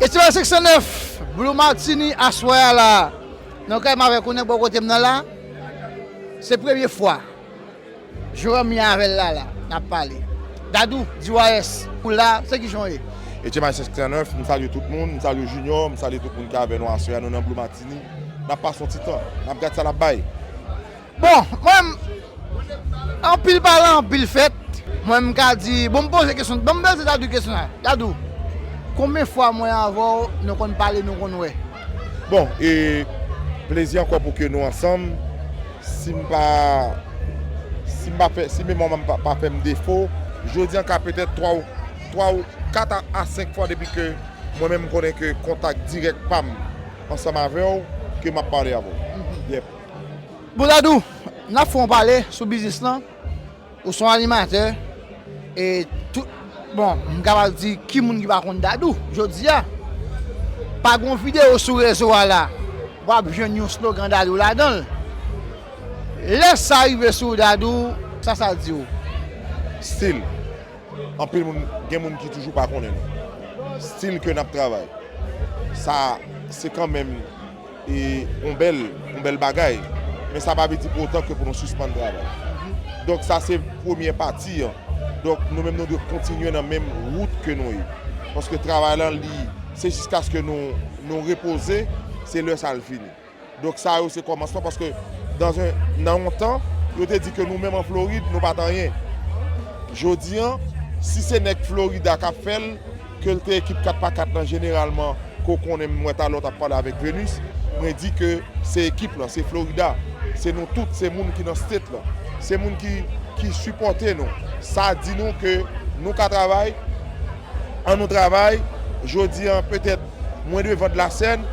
Estivaliz 509, Blue Martini aswè a la nan kay m avèk yon nèg bò kote m nan la, se premye fwa Joram ye avè l la la n ap pale. Dadou, DYS, ou la, se kijan w ye? Estivaliz 509, M salye tout moun, m salye Junior, m salye tout moun ki avè nou aswè a, nou nan Blue Martini, n ap pase yon ti tan, n ap gad sa l ap bay. Bon mwen m Anpil pale anpil fèt Mwen m ka di Bon m poze kesyon Bon m poze Dadou kesyon sa Dadou Konbyen fwa mwen avè w nou konn pale nou konn wè? Bon e Plezi ankò pou ke nou ansanm Si m pa Si m pa fè Si memwa m pa fè m defo Jodi an ka petèt 3 ou 3 ou 4 a 5 fwa depi ke mwen menm m konnen ke kontak dirèk pa m ansanm avè w ke m ap pale avè w Yep. Bouladou, n ap fè yon pale sou biznis lan, ou son animatè e tout, bon m kapab di ki moun ki pa konn Dadou jodi a, pa gon videyo sou rezo a la w ap jwenn yon slogan Dadou ladan l, lè sa rive sou w Dadou sa sa di w? Stil, anpil moun, gen moun ki toujou pa konnen nou, stil ke n ap travay, sa se kanmenm. E yon bèl, yon bèl bagay. Men sa pa vle di pou otan ke pou nou sispann travay. Donk sa se premye pati an. Donk nou menm nou dwe kontinye nan menm wout ke nou ye. Paske travay lan li, se jiskaske nou, nou repoze, se lè sa li fini. Donk sa yo se kòmansman paske dans un, nan yon tan, yo te di ke nou menm an Florid nou pat anyen. Jodi an, si se nèg Florida kap fèl, Ke l te ekip 4 pa 4 lan jeneralman ke w konnen m wè talè w t ap pale avèk Venus mwen di ke se ekip lan se Florida se nou tout se moun ki nan state lan se moun ki ki sipòte nou sa di nou ke nou ka travay an nou travay jodi an petèt mwen devan de la sèn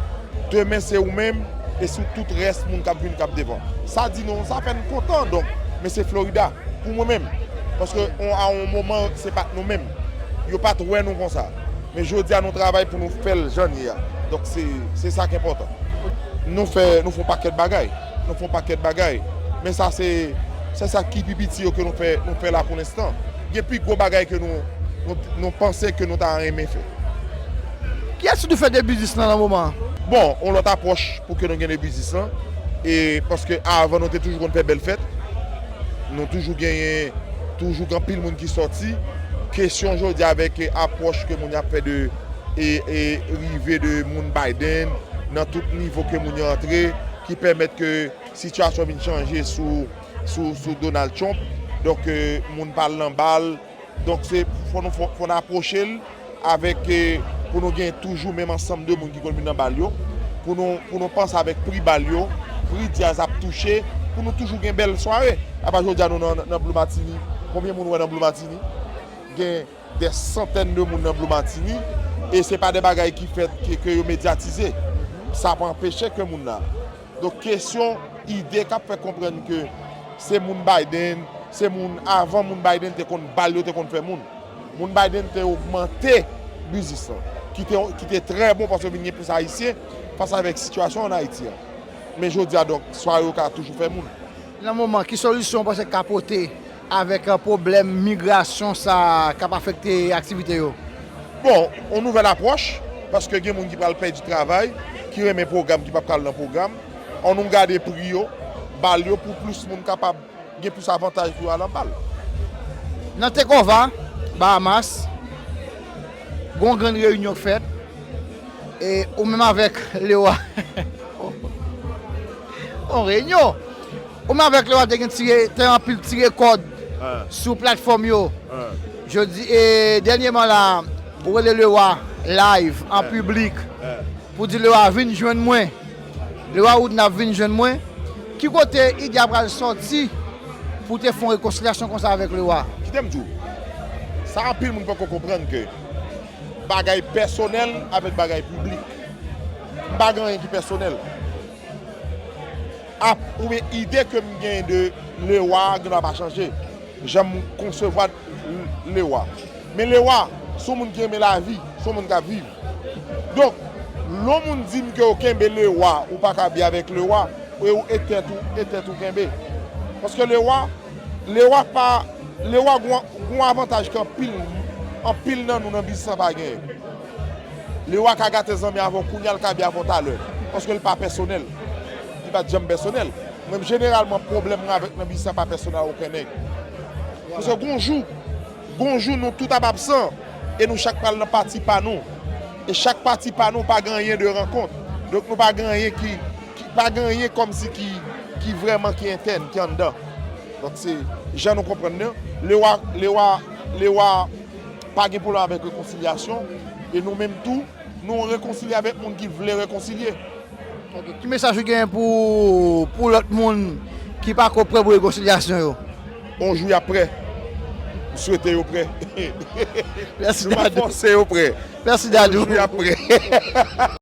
demen se ou menm e sou tout rès moun k ap vini k ap devan sa di nou sa fè n kontan donk men se Florida pou mwen menm paske on a on moman se pa t nou menm. Yo pa t wè nou konsa. Men jodi a nou travay pou nou fè l jan l ye a. Donk se sa k enpòtan. Nou fè, nou fè yon pakèt bagay. Nou fè yon pakèt bagay. Men sa se se sa ki pi piti yo ke nou fè, nou fè la pou lenstan. Gen pi gwo bagay ke nou, nou panse ke nou ta renmen fè. Ki ati nou fè de biznis lan nan moman an? Bon, yon lòt apwòch pou ke nou gen de biznis lan. E paske avan nou te toujou konn fè bèl fèt. Nou toujou genyen toujou gen anpil moun ki sòti. Kesyon jodi avèk apwòch ke moun yo ap fè de rive de moun Biden nan tout nivo ke moun yo antre ki pèmèt ke sitiyasyon vin chanje sou Donald Trump. Donk moun pral nan bal. Donk se fò nou fò n apwoche l avèk pou nou gen toujou menm ansanm de moun ki konn vin nan bal yo, pou nou pou nou panse avèk pri bal yo, pri djaz ap touche pou nou toujou gen bèl sware. Apa jodi a nou nan Blue Martini, konbyen moun ou wè nan Blue Martini? Gen dè santèn de moun nan Blue Martini e se pa de bagay ki fèt ke yo medyatize. Sa pa anpeche ke moun la. Donk kesyon ide kap fè konprann ke se moun Biden, se moun avan moun Biden te konn bal yo te konn fè moun. Moun Biden te ogmante biznis lan ki te trè bon paske vin gen plis ayisyen fas avèk sitiyasyon an Ayiti an. Men jodi a donk swa yo ka toujou fè moun. Nan moman, ki solisyon ou panse k ka pote? Avèk pwoblèm migrasyon sa ka pa afekte aktivite yo? Bon, yon nouvèl apwòch, paske gen moun ki pral pèdi travay, ki renmen pwogram ki pap ka al nan pwogram. An nou gade pri yo, bal yo pou plis moun kapab gen plis avantaj pou yo al an bal. Nan Tecova, Bahamas, gen yon grann reyinyon k fèt, e ou menm avèk Leo a, yon reyinyon! Ou menm avèk Lewa te gen tire te anpil tire kòd sou platfòm yo jodi e dènyeman la ou rele Lewa live an piblik pou di Lewa vin jwenn mwen Lewa ou di nap vin jwenn mwen ki kote ide a pral sòti pou te fon rekonsilyasyon konsa avèk Lewa? Kitem diw sa anpil moun poko konprann ke bagay pèsonèl avèk bagay piblik m pa gen anyen ki pèsonèl. Ap, oubyen ide ke m gen de Lewa a gen dwa pa chanje, jan m konsevwa Lewa. Men Lewa, se yon moun ki renmen lavi, se yon moun k ap viv. Donk, lè yon moun di m ke ou kenbe Lewa, ou pa ka bi avèk Lewa, e ou e tèt ou, e tèt ou kenbe. Paske Lewa, Lewa pa, Lewa gen yon avantaj ke anpil, anpil nan nou nan biznis lan pa genyen. Lewa ka gate zanmi avè w kounya l ka byen avè w talè. Paske l pa pèsonèl. Li pa t janm pèsonèl. Mwen jeneralman pwoblèm mwen avèk nan biznis la pa pèsonèl a oken nèg. Paske gon jou, gon jou nou tout ap absan e nou chak pral nan pati pa nou. E chak pati pa nou pa gen anyen de rankont. Donk nou pa gen anyen ki, ki pa gen anyen kòmsi ki, ki vrèman ki entèn, ki anndan. Donk se jan nou konprann nan. Lewa, Lewa, Lewa. Pa gen pwoblèm avèk rekonsilyasyon e nou menm tou nou rekonsilye avèk moun ki vle rekonsilye. Ok, ki mesaj ou genyen pou pou lòt moun ki pa ko prè pou rekonsilyasyon yo? On jou yap prè. M swete yo prè. Mèsi Dadou. Nou pa fòse yo prè. Mèsi Dadou. On jou yap prè.